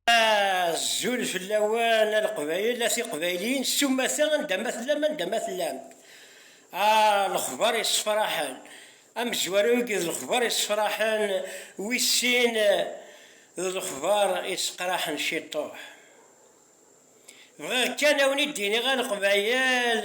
Azul fell-awen a Leqbayel, a Tiqbayliyin, s umata anda ma tellam, anda ma tellam. Ah, lexbar yessefraḥen, amezwaru agi d lexbar yessefraḥen, wis sin d lexbar yesseqraḥen ciṭuḥ. Bɣiɣ kan a wen-id-iniɣ a Leqbayel,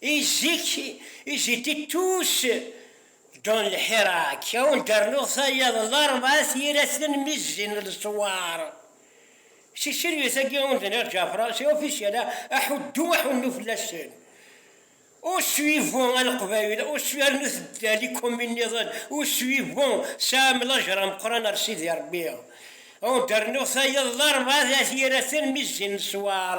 Izik iziti tus don lḥirak, awen d-rnuɣ tayeḍ n ṛebɛa tiyraten mi zzin leswar. Si tselwit-agi awen d-nniɣ Ǧafra, c'est officiel, aḥuddu aḥunnu fell-asen. Au suivant a Leqbayel, au suivant rnu teddal i commune nniḍen, au suivant tesɛam lajṛa ameqqran ar Sidi Ṛebbi. Awen d-rnuɣ tayeḍ n ṛebɛa tiyraten mi zzin leswar.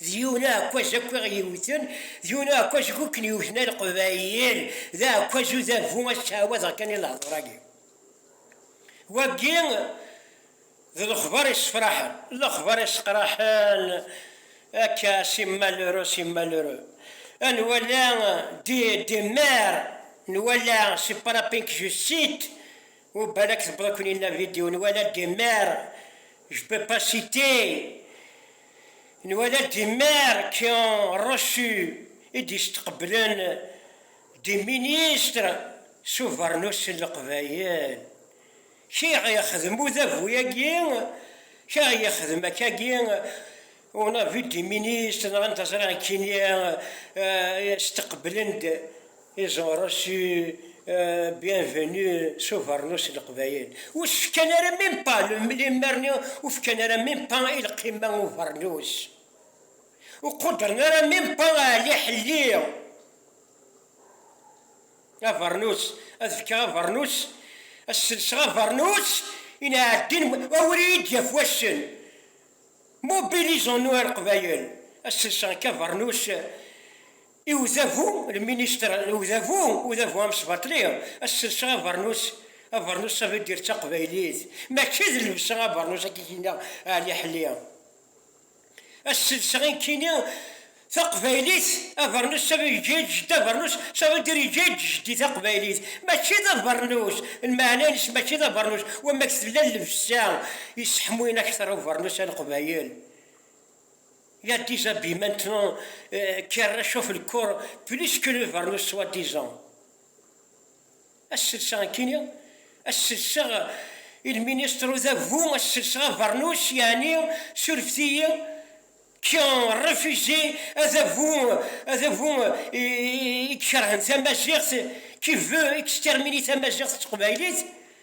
D yiwen uɛekkaz akk i ɣ-yewwten, d yiwen uɛekkaz akk i ken-yewwten a Leqbayel, d aɛekkaz udabu, ad ttɛawadeɣ kan i lehdur-agi. Wagi d lexbar yessefraḥen, lexbar yesseqraḥen akka si malheureux, si malheureux, a nwala des des mères, nwala c'est pas la peine que je cite, ou balak tewweḍ-ken-in la vidéo, nwala des mères, je peux pas citer, Nwala-d imer qu'un reçu i d-yesteqblen des ministres s ubernus n Leqbayel. Kra i ɣ-yexdem udabu-agi, kra i ɣ-yexdem akkagi, on a vu des ministres, nɣan taẓri nekkini, steqblen-d, Iẓewṛes i bienvenu s ubernus n leqbayel ur s-fkan ara même pas lemmerni ur fkan ara même pas i lqima n ubernus ur quddren ara même pas Ɛli Ḥelli abernus ad fkeɣ abernus ad selseɣ abernus i nɛeddin awer iyi-d-yaf wassen mobilisons-nous a leqbayel ad selseɣ akka abernus I udabu, lministre, n udabu, udabu amesbaṭli, ad selseɣ abernus, abernus ça veut dire d taqbaylit, mačči d llebsa abernus akka i k-yenna Ɛli Ḥli. Ad selseɣ inkini taqbaylit, abernus ça veut yeǧǧa-yi-d jeddi abernus ça veut dire yeǧǧa-yi-d jeddi taqbaylit, mačči d abernus, lmeɛna-ines mačči d abernus, wamma-k tella llebsa yesseḥmuyen akteṛ ubernus a leqbayel. Il a des habits maintenant qui réchauffent le corps plus que le vernis soi-disant. Asselsa akini, asselsa il ministre d agu, asselsa vernis yani surfet-iyi qui ont refusé ad agu, ad agu i ikerhen tamaziɣt, qui veut exterminer tamaziɣt d teqbaylit.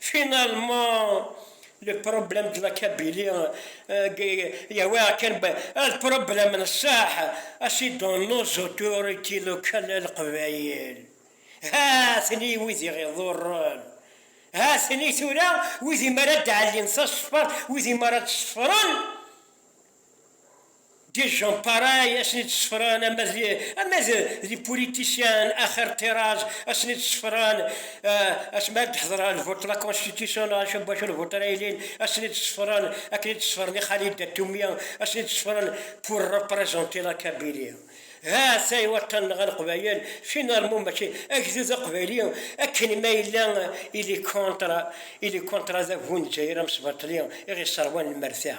Finalement, le problème de la Kabylie il y avait un problème صح c'est dans nos autorités locales à Leqbayel ha-ten-i wid i ɣ-iḍurren ha-ten-i tura wid i mi ara d-ɛellin tasfert wid i mi ara d-ṣefren Des gens pareils assen i d-sefran ama d des politiciens axir ṭṭiraz assen i d-sefran asmi ara d-ḥedreɣ le vote de la constitution neɣ acu n wacu le vote ara yilin assen i d-sefran akken i d-sefren i xali Datumi assen i d-sefran pour représenter la Kabylie ha-t-a i waṭṭan-nneɣ a Leqbayel finalement mačči agdud aqbayli akken ma yella il est contre il est contre adabu n Lezzayer amesbaṭli i ɣ-yesserwan lmerta.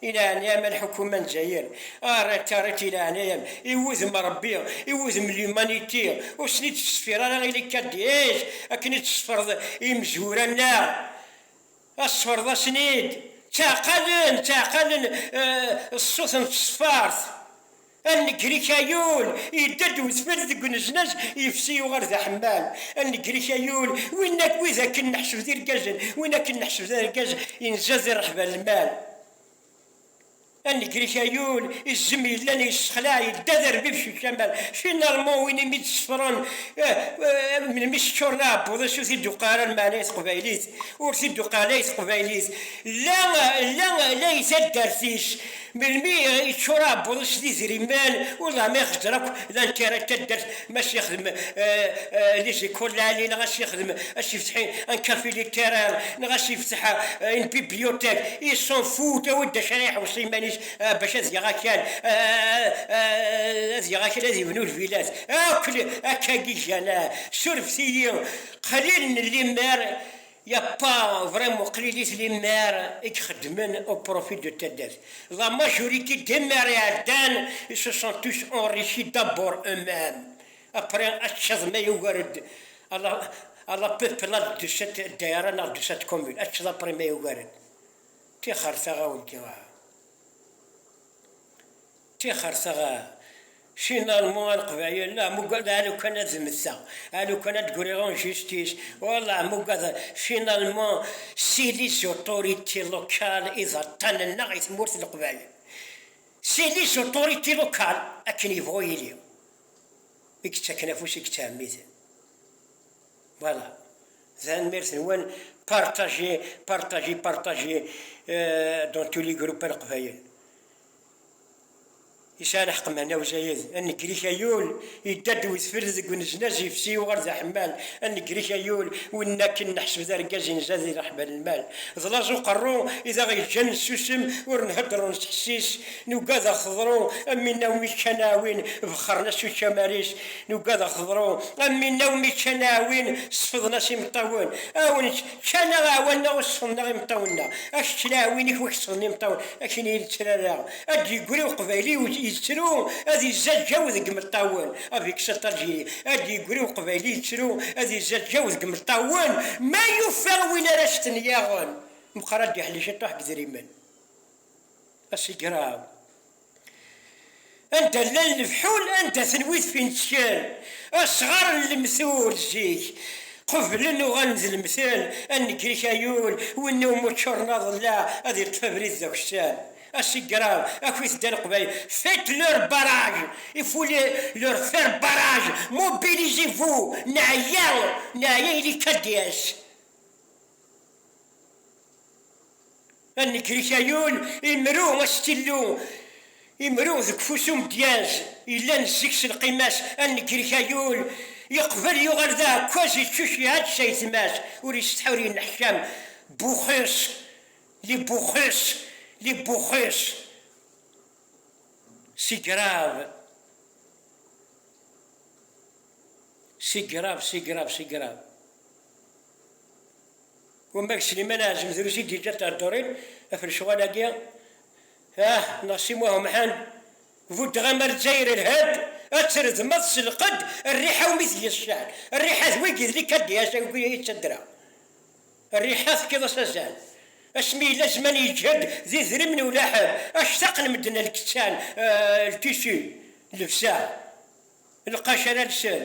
I leɛnaya-m a lḥukuma n Dzayer, err-attaret i leɛnaya-m i wudem Rebbi, i wudem l'humanité, ur ten-id-teṣfir ara ili KDH akken i d-teṣfreḍ imezwura-nneɣ, ad teṣfreḍ-asen-id, ttaɛqalen, ttaɛqalen ṣṣut n tṣeffart, Anegrik Ayul, yedda-d udfel deg uneznaz, yefsi yuɣal d aḥemmal. Anegrik Ayul, win akk wid akken neḥseb d irgazen, win akken neḥseb d argaz, yenza di rreḥba n lmal. Anegrik Ayul, izem yellan yessexlaɛ, yedda d arbib s ucamal. Finalman, win imi d-sefren, melmi seččuren aɛebbuḍ-is ur t-id-tuqeɛ ara lmeɛna i teqbaylit, ur t-id-tuqeɛ la i teqbaylit, la la i taddart-is. Melmi i yeččur aɛebbuḍ-is d idrimen, uḍam ixeẓer akk d anekkar n taddart, ma ad s-yexdem Lizzie Coleali neɣ ad s-yexdem, ad s-yefteḥ un café littéraire neɣ ad s-yefteḥ une bibliothèque, il s'en fout, awi-d d acu ara iḥewṣ iman-is bac ad yaɣ akal, ad yaɣ akal ad yebnu lvilat, akk akka giǧǧan-a. Surfet-iyi, qlil n limmer Yapa vrem qlilit limer i ixeddmen au profit de taddart. La majorité des maires iɛeddan ils se sont tous enrichis d'abord eux-mêmes après accaḍ ma yugar-d à la à la peuplade de cette daïra neɣ de cette commune accaḍ après ma yugar-d. Tixer taɣawla. Tixer taɣa finalmu a leqbayel la mugad a lukan ad zmeteɣ a lukan ad d-griɣ en justice oh la mugad finalmu si les autorités locales i d aṭṭan nneɣ i tmurt n leqbayel si les autorités locales akken yebɣu yili i yettaken afus i yettɛemmiden voilà tanemmirt nwen partager partager partager dans tous les groupes a leqbayel Yesɛa lḥeqq meɛna uzayed anegrik ayul yedda-d wedfel deg unejnaj yefsi yuɣal d aḥemmal anegrik ayul win akken neḥseb d argaz inza di rreḥba n lmal d laẓ uqerru i d aɣ-yeǧǧan nessusem ur nhedder ur nettḥessis nugad aɣ teḍru am winna umi kkan aɛwin bexxren-as ucamar-is nugad aɣ teḍru am winna umi kkan aɛwin sefḍen-as imeṭṭawen aw Ččan-aɣ iɛwanen-aɣ ur sexdmen-aɣ imeṭṭawen-nneɣ, ad kečč laɛwin-ik wak sexdmen imeṭṭawen akken iyi lettrara, ad d-yeggri uqbayli yettru ad izzaǧǧaw deg imeṭṭawen, avec sa tragédie, ad d-yeggri uqbayli yettru ad izzaǧǧaw deg imeṭṭawen ma yufa win ara as-ten-yaɣen, meqqer ad d-iḥli ciṭuḥ deg idrimen. Asigraw. Anda llan lefḥul, anda-ten wid fintken, asɣar n lemtul zik qeblen uɣalen d lemtel, ad negri kayul, win iwumi ččuren aḍellaɛ ad iṭṭef abrid d akessar. Asigraw, Akwi tedda Leqbayel, faites leur barrage, il faut les leur faire barrage, mobilisez-vous, neɛya, neɛya ili-k ad d-yas. A nnger-ik a yul, imru a s-tillu, imru deg ufus umedyaz, yellan zzeg s lqima-s, a nnger-ik a yul, yeqbel yuɣal d aɛekkaz, yeččuc iɛeǧǧ s ayetma-s, ur isetḥa ur yenneḥcam, buxus, li buxus, li buxus, si grav, si grav, si grav, si grav. Wamma deg Sliman Ɛazem drus i d-yeǧǧa theddurin ɣef lecɣal-agi, ah neɣ Si Muḥ Umḥend, buddeɣ am Lezzayer ilha-d, ad tredmeḍ s lqedd rriḥa umi tgi cceḥ, rriḥa d wigi d likadiyas agi i ttaddra, rriḥa tefkiḍ-as azal, asmi yella zzman yeǧhed d idrimen i ulaḥeb, actaqen medden a lkettan, ltissu, llebsa, lqac ara lsen.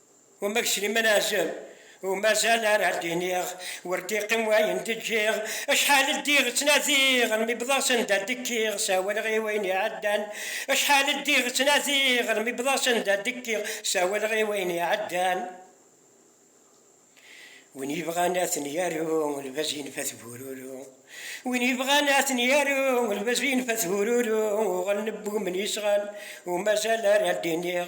Umak Sliman Azem, ur mazal ara d-iniɣ, ur d-iqqim wayen d-ǧǧiɣ, acḥal ddiɣ ttnadiɣ almi wwḍeɣ s anda d-kkiɣ, sawaleɣ i wayen iɛeddan, acḥal ddiɣ ttnadiɣ almi wwḍeɣ s anda d-kkiɣ, sawaleɣ i wayen iɛeddan. Win yebɣan ad ten-yaru, lbaz yenfa-t bururu. Win yebɣan ad ten-yaru, lbaz yenfa-t bururu, uɣalen wwumen yesɣan, ur mazal ara d-iniɣ.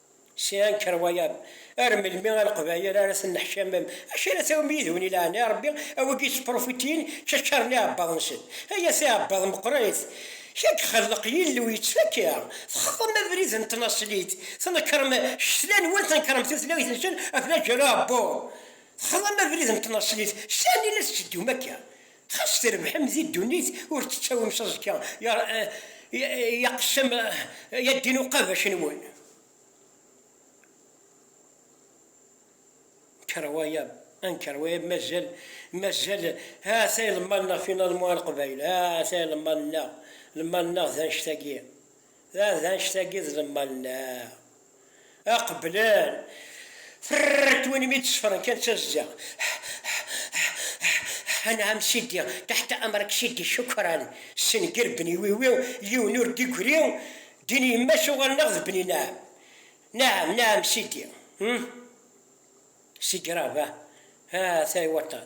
Sɛan kerwayaḍ, ar melmi a leqbayel ara tenneḥcamem, acu ara tawim yid-wen i leɛna Rebbi, a wigi ttprufitiyen čačaren iɛebbaḍ-nsen, ay at iɛebbaḍ meqqrit, k a ixelleq Yillu yettfakka, texḍem abrid n tnaṣlit, tnekrem ccetla-nwen, tnekrem tutlayt-nsen, aflaǧel uɛebbuḍ, texḍem abrid n tnaṣlit, sani la tetteddum akka? Xas trebḥem di ddunit ur tettawim s aẓekka yaqessam ya ddin uqabac nwen. Nker wayab, anker wayab mazal mazal hata ilemmaḍ-nneɣ finalement a Leqbayel hata ilemmaḍ-nneɣ, lemmaḍ-nneɣ d annect-agi. Dɣa d annect-agi i d lemmal-nneɣ. Ad qeblen. Ferr-t win mi d-sefren kan d tazza. Anɛam Sidi, taḥta amrak Sidi Cukran, ssenger Bni Wiwi, yiwen ur d-igri, ddin yemma-s uɣalen-aɣ d Bni Naɛam. Naɛam, Naɛam Sidi. Hum! Sidi Rahba, ah, tay waṭṭan.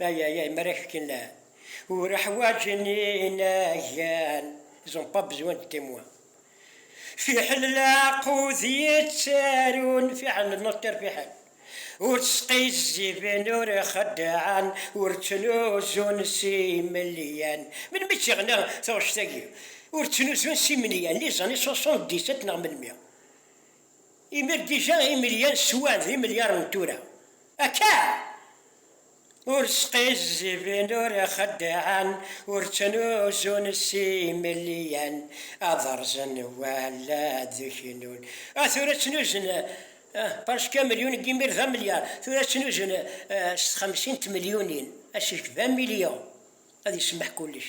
Ay ay ay mara kfken la ura ḥwaǧen inagan ils ont pas besoin de témoins fiḥel laqud yettarun fiḥel le notaire fiḥel ur ţsqizziben ur xeddɛen ur ţnuzun s imelyan melmi ţ-iɣna taɣect-agi ur ţnuzun s imelyan les années soixante-dix-sept neɣ melmi? Imal dija imelyan swan d imelyaṛen n tura akka! Ur sqizziben, ur xeddɛen, ur ttnuzun s imelyan ad rẓen wala ad knun. Ah, tura ttnuzen presque un million deg imir d amelyar, tura ttnuzen s txemsin n tmelyunin, asefk d un million ad isemmeḥ kullec.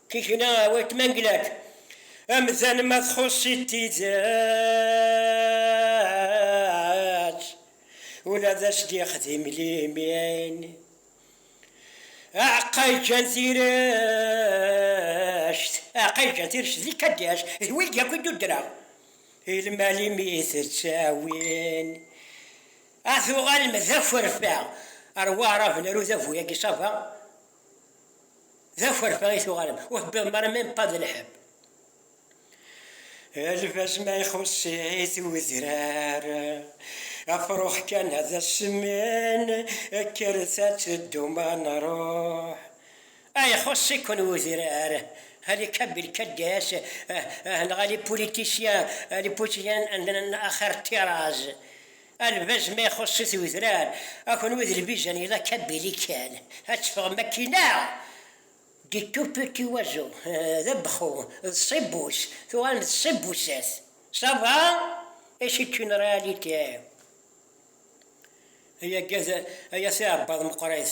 Tikna a weltma n Glak. Amdan ma txuṣ-it tidet, ula d as-d-yexdim limin. Aɛeqqa yeǧǧan tirect, aɛeqqa yeǧǧan tirect d ikaddias, d wid yakk i d-uddreɣ, i lmal i mi-t-ttawin, ad tuɣalem d aferfa ar Waɛrab n Rudabu-yagi Saba. D akerfa i tuɣalem, ur tewwiḍem ara même pas d lḥebb. Lbaz ma ixuṣ-it udrar, afrux kan ad as-semmin, kkret ad teddum ad nruḥ. Ah, ixuṣ-iken udrar, ah les cabilcaddes, ah, ah, neɣ ah les politiciens, ah les politiciens, ah, ah, axir ṭṭiraz. A lbaz ma ixuṣ-it wedrar, a kunwi d lbizan yella kabili kan, ad teffɣem akkin neɣ? Des tout petits oiseaux, d abexxu, d ṣibbus, tuɣalem d ṣibbusat, ça va? Et c'est une réalité. Ay agad ay at iɛebbaḍ meqqrit.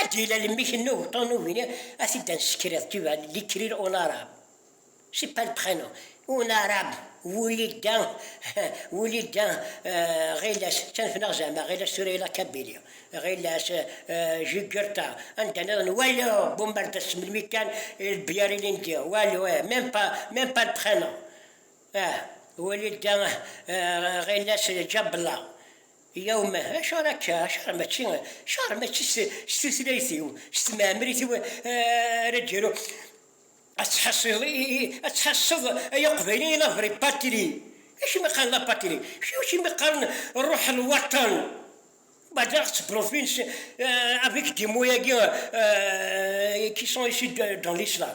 Ad yella lemmik n ubeṭṭu n ugni ad t-id nsekred tu vas l'écrire en arabe c'est pas le prénom en arabe Wulida Wulida ɣilas ttanefneɣ zeɛma ɣilas tura yella kabili ɣilas Jugurta anda niḍen walu Bombardes melmi kan Lbiyar ilindi walu eh même pas même pas le prénom ah Wulida ɣilas Djabla Yya umah, acuɣer akka? Acuɣer mačči, acuɣer mačči s tutlayt-iw, s tmeɛmrit-iw ara d-iru? Ad tḥaṣiḍ, ad tḥaṣṣeḍ ay Aqbayli i la vraie patrie! Acimi qqaren la patrie? Acimi qqaren ruḥ a lwaṭan? Badaɣ d tbrufins avec des mots-agi qui sont issus dans l'islam.